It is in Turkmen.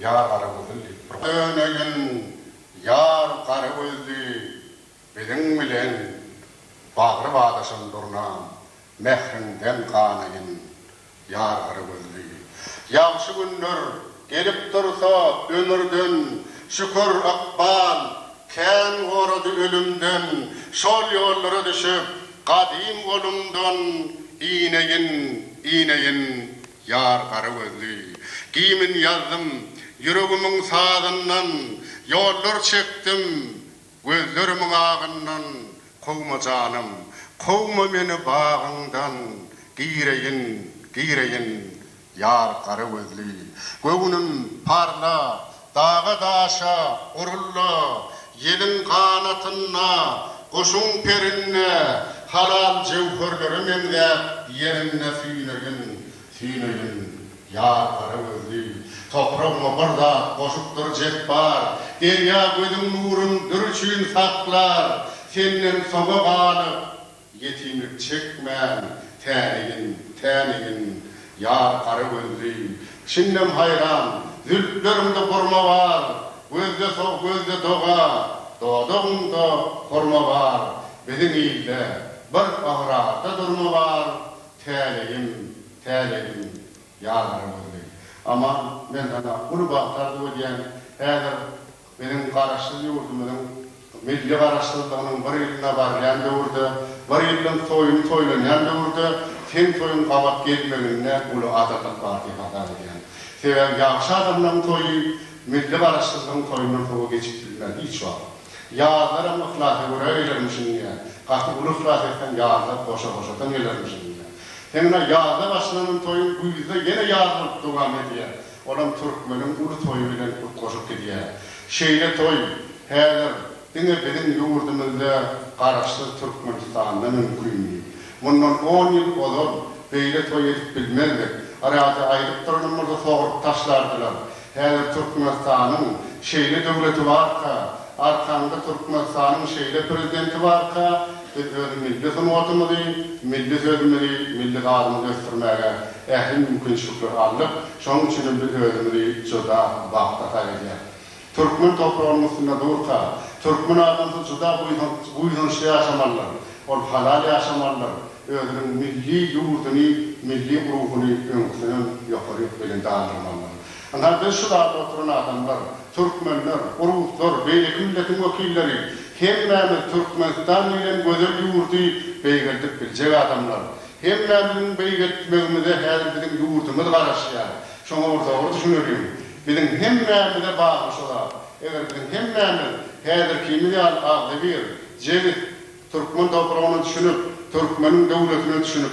Ýar Garagözül diýip bir. Döneýin, ýar Garagözli, biziň bilen bagry badaşan durnam, mähriňden ganaýyn, ýar Garagözli. Ýagşy günler gelip dursa ömürden, şükür, ykbal kän gorady ölümden, şol ýollara düşüp, gadym golumdan ineýin, ineýin. Ýar gara gözli. Gimn ýazdym. Ýüregimiň sazyndan. Ýollar çekdim. Gözlerimiň agyndan. Kowma janym. Kowma meni bagyňdan. Gireýin, gireýin. Ýar gara gözli. Göwnüm, parla, Daga-daşa urulla, ýeliň ganatynda, guşuň perinde, halal jöwherlere meňzäp ýerinde süýneýin, süýneýin. Ýar gara gözli, topragyňa bir zat goşupdyr Jepbar, derýa gözüň nurun dür üçin saklar, senden soňa galyp, Ýetimlik çekmän, tänegin, tänegin, ýar gara gözli, Çyndan haýran, zülpleriňde burma bar, Gözde sow, gözde doga, dodagyňda hurma bar, Biziň ilde bir ygrarda durma bar, Tänegin, tänegin, ýar gara gözli. Aman, men saňa uly bagtardyp öýdýän, häzir Biziň Garaşsyz ýurdumyzyň milli Garaşsyzlygynyň bir ýylyna barýan döwürde, bir ýyllyk toýuny toýlanýan döwürde seň toýuň gabat gelmeginde uly adyllyk bar diýip hasap edýän. Sebäbi ýagşy adamlaryň toýy milli Garaşsyzlygyň toýundan sowa geçip bilmez hiç wagt. Ýazlaram yhlasa görä gelermişin diýýä. Gaty uly yhlas etseň ýazlar goşa-goşadan gelermişin diýýä. Seň ine ýazda başlanan toýuň güýzde ýene ýaz bolup dowam edýä. Olam türkmeniň uly toýy bilen utgaşyp gidýär. Şeýle toý häzir diňe biziň ýurdumyzda Garaşsyz Türkmenistanda mümkindi. Mundan on ýyl ozal beýle toý edip bilmezdik. Arada aýdyp duranymyzy sogrup taşlardylar. Häzir Türkmenistanyň şeýle döwleti barka, arkaňda Türkmenistanyň şeýle prezidenti barka, Biz öz milli sungatymyzy, milli sözümizi, milli sazymyzy ösdürmäge ähli mümkinçilikleri aldyk. Şonuň üçin hem biz özümizi juda bagtly hasap edýäris. Türkmen topragynyň üstünde durka, türkmen adamsy juda buýsançly ýaşamalydyr. Ol halal ýaşamalydyr, özüniň milli ýurduny, milli ruhuny öňküsinden ýokaryk belende galdyrmalydyr. Ynandyr şu zada oturan adamlar, türkmenler, ruslar, beýleki milletiň wekilleri, hemmämiz Türkmenistan diýlen gözel ýurdy beýgeldip biljek adamlar. Hemmämiziň beýgeltmegimize häzir biziň ýurdumyz garaşýar. Şoňa bir dogry düşüneliň. Biziň hemmämize bagly şu zat. Eger biziň hemmämiz häzirkimiz ýaly agzybir, jebis, türkmen topragyna düşünip, türkmeniň döwletine düşünip,